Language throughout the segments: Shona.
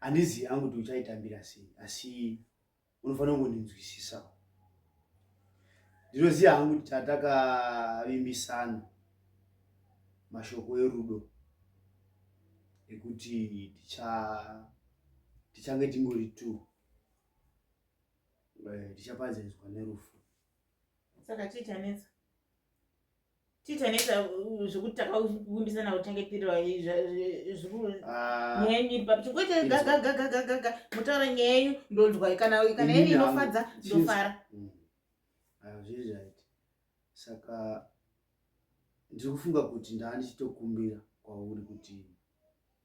handizivi hangu kuti uchaitambira sei asi unofanira kungondinzwisisawo ndinoziva hangu kuti tatakavimbisana mashoko erudo ekuti tichange tingori t eh, tichapadzaidzwa nerufu saka chii chanetsa titaneta zvekuti takavimbisana kuchengeterwa ah. nyenyu iri papi chikuite gagagagagaga mutaura nyaya yenyu ndonzwa kana kana yenyu inofadza ndofara mm. ah, zviri right saka ndiri kufunga kuti ndaa ndichitokumbira kwauri kuti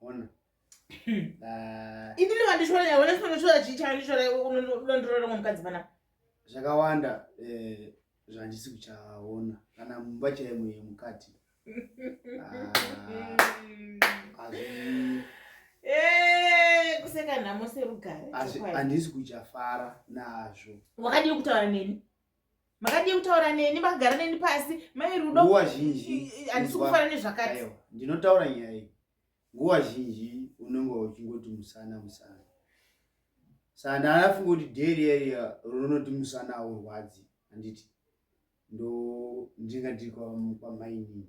Ona. Ah. Ini ndino vandishora nyaya, wena sinono shora chii changa ndishora unondirora mwa mukadzi pana. Zvakawanda eh zvandisi kuchaona kana mumba chaimo yemukati. Ah. Azvi Eh, kuseka nhamo serugare. azvi handisi kuchafara nazvo. Wakadii kutaura neni? makadii kutaura neni makagara neni pasi mai rudo nguva zhinji handisi kufara nezvakati ndinotaura nyaya iyi nguva zhinji unenge uchingoti musana musana saka ndaanafunga kuti dheri yaiya runoti musana aurwadzi handiti ndo ndinga ndiri kwamainini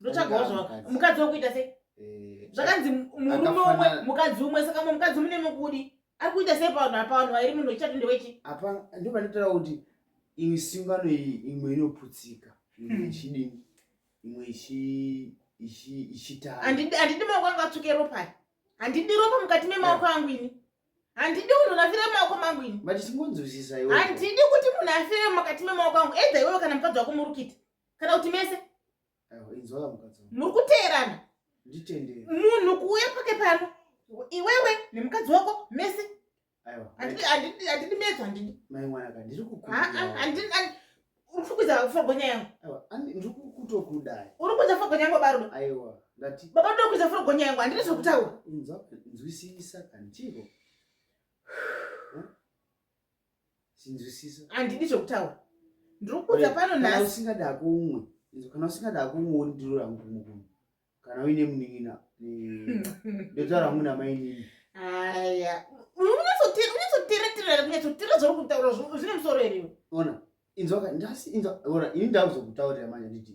ndotsvagawo zvava mukadzi wakuita sei eh, zvakanzi eh, murume umwe mukadzi umwe saka mwe mukadzi mune mukudi ari kuita sei pavanhu apavanhu vairi munhu wechitatu ndewechi apa ndo panotara kuti imwe sungano iyi imwe inoputsika imwe hmm. ichidini imwe ichitara handidi maoko angu atsvuke ropai handidi ropa mukati memaoko angu ini handidi munhu nafire mumaoko mangu ini handidi kuti munhu afire mukati memaoko angu edza iwewe kana mukadzi wako murukita kana kuti mese muri kuteerana munhu kuuya pake pano iwewe nemukadzi wako mese handidi medzo handidi urikukuza fogonya yangu urikukuza fogonya yangu barudo baba ndokuza fogonya yangu handidi zvekutaura nzwisisa kantiko sinzwisisa handidi zvekutaura ndiri kuudza pano nhasi usingada hako umwe kana usingada hako umwe wondiro rangu kumukumu kana uine munin'ina ndotaura hangu namainini aya unyatsotereterera kunyatsotera zvauri kutaura zvine musoro here ona inzwaka ndasi inzwa ona ini ndakuzokutaurira manje nditi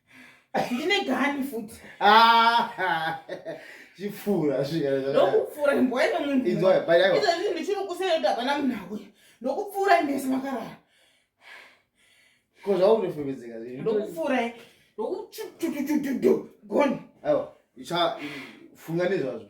ndine gani futi chipfuura zvindokupfuura imbwa ine munhu izvezvi ndichiri kusere kuti hapana munhu auya ndokupfuura imese makarara ko zvaunofemedzeka ndokupfuura ndokuchutututututu goni aiwa funga nezvazvo